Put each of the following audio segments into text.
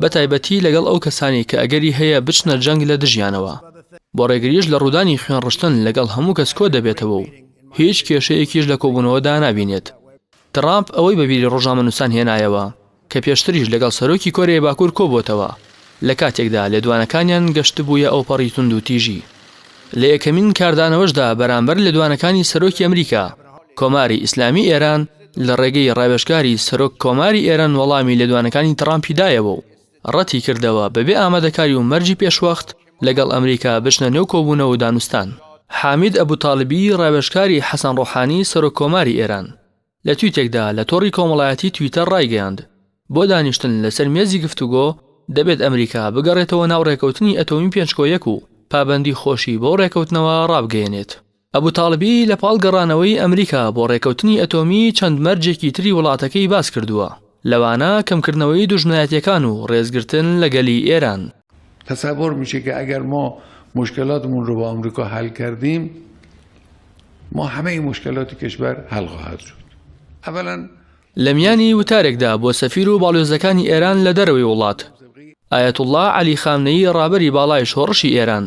بەتایبەتی لەگەڵ ئەو کەسانەی کە ئەگەری هەیە بچنە جەنگ لە دژیانەوە. بۆ ڕێگریش لە ڕوودانی خوێن ڕشتن لەگەڵ هەموو کەس کۆ دەبێتەوە و هیچ کێشەیەکیش لە کۆبوونەوە دا نابینێت. تڕامپ ئەوەی بە بیری ڕۆژنامەنووسان هێنایەوە کە پێشتریش لەگەڵ سەرۆکی کۆریای باکوور کۆ بۆتەوە لە کاتێکدا لێدوانەکانیان گەشتبوویە ئەوپەڕی توندوتیژی. لە یەکەمین کاردانەوەشدا بەرامبەر لێدوانەکانی سەرۆکی ئەمریکا، کۆماری ئیسلامی ئێران، لە ڕێگەی ڕاوێژکاری سەرۆک کۆماری ئێران وەڵامی لێدوانەکانی تڕامپی دایەوە و ڕەتی کردەوە بەبێ ئامادەکاری و مەرجی پێشوەخت لەگەڵ ئەمریکا بچنە نێو کۆبوونەوە و دانوستان. حامید ئەبوتاڵبی ڕاوێژکاری حەسەن ڕۆحانی سەرۆک کۆماری ئێران لە تویتێکدا لە تۆڕی کۆمەڵایەتی تویتەر ڕایگەیاند بۆ دانیشتن لەسەر مێزی گفتوگۆ دەبێت ئەمریکا بگەڕێتەوە ناو ڕێکەوتنی ئەتۆمی پێنج کۆ یەک و پابەندی خۆشی بەو ڕێکەوتنەوە ڕابگەیەنێت. ئەبو تاڵبی لە پاڵ گەڕانەوەی ئەمریکا بۆ ڕێکەوتنی ئەتۆمی چەند مەرجێکی تری وڵاتەکەی باس کردووە، لەوانە کەمکردنەوەی دوژمنایەتیەکان و ڕێزگرتن لە گەلی ئێران. تصور میشه که اگر ما مشکلاتمون رو با آمریکا حل کردیم ما همه مشکلات کشور حل خواهد شد اولا لە میانی وتارێکدا بۆ سەفیر و باڵیۆزەکانی ئێران لە دەرەوەی وڵات، ئایەتوڵڵا عەلی خامنەیی ڕابەری باڵای شۆڕشی ئێران،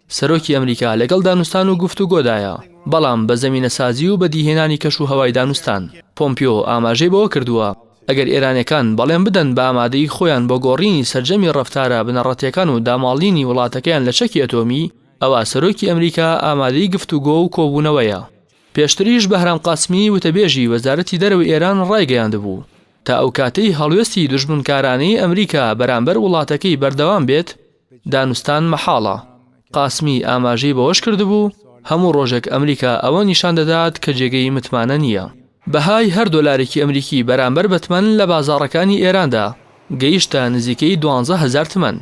سەرۆکی ئەمریکا لەگەڵ دانوستان و گفتوگۆدایە، بەڵام بە زەمینەسازی و بەدیهێنانی کەشوهەوای دانوستان. پۆمپیۆ ئاماژەی بەوە کردووە، ئەگەر ئێرانیەکان بەڵێن بدەن بە ئامادەیی خۆیان بۆ گۆڕینی سەرجەمی ڕەفتارە بنەڕەتییەکان و داماڵینی وڵاتەکەیان لە چەکی ئەتۆمی، ئەوا سەرۆکی ئەمریکا ئامادەی گفتوگۆ و کۆبوونەوەیە. پێشتریش بەهرام قاسمی وتەبێژی وەزارەتی دەرەوەی ئێران ڕایگەیاندبوو، تا ئەو کاتەی هەڵوێستی دوژمنکارانەی ئەمریکا بەرامبەر وڵاتەکەی بەردەوام بێت، دانوستان مەحاڵە. قاسمی ئاماژەی بەوەش کردبوو، هەموو ڕۆژێک ئەمریکا ئەوە نیشان دەدات کە جێگەی متمانە نییە. بەهای هەر دۆلارێکی ئەمریکی بەرامبەر بە تمەن لە بازاڕەکانی ئێراندا گەیشتە نزیکەی دوانزە هەزار تمەن،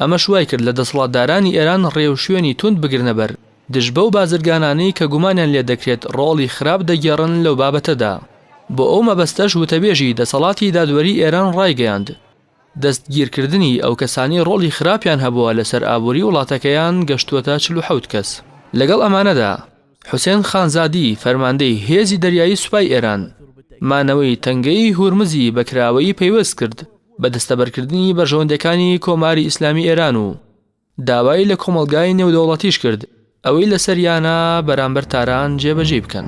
ئەمەش وایکرد لە دەسەڵاتدارانی ئێران ڕێوشوێنی توند بگرنە بەر دژ بەو بازرگانانەی کە گومانیان لێدەکرێت ڕۆڵی خراپ دەگێڕن لەو بابەتەدا. بۆ ئەو مەبەستەش وتەبێژی دەسەڵاتی دادوەری ئێران ڕایگەیاند، دەستگیرکردنی ئەو کەسانەی ڕۆڵی خراپیان هەبووە لەسەر ئابووری وڵاتەکەیان گەشتووەتە چل و حەوت کەس. لەگەڵ ئەمانەدا، حوسێن خانزادی، فەرماندەی هێزی دەریایی سوپای ئێران، مانەوەی تەنگەی هورمزی بە کراوەیی پەیوەست کرد بە دەستەبەرکردنی بەرژەوەندییەکانی کۆماری ئیسلامی ئێران و داوای لە کۆمەڵگای نێودەوڵەتیش کرد ئەوەی لەسەریانە بەرامبەر تاران جێبەجێی بکەن.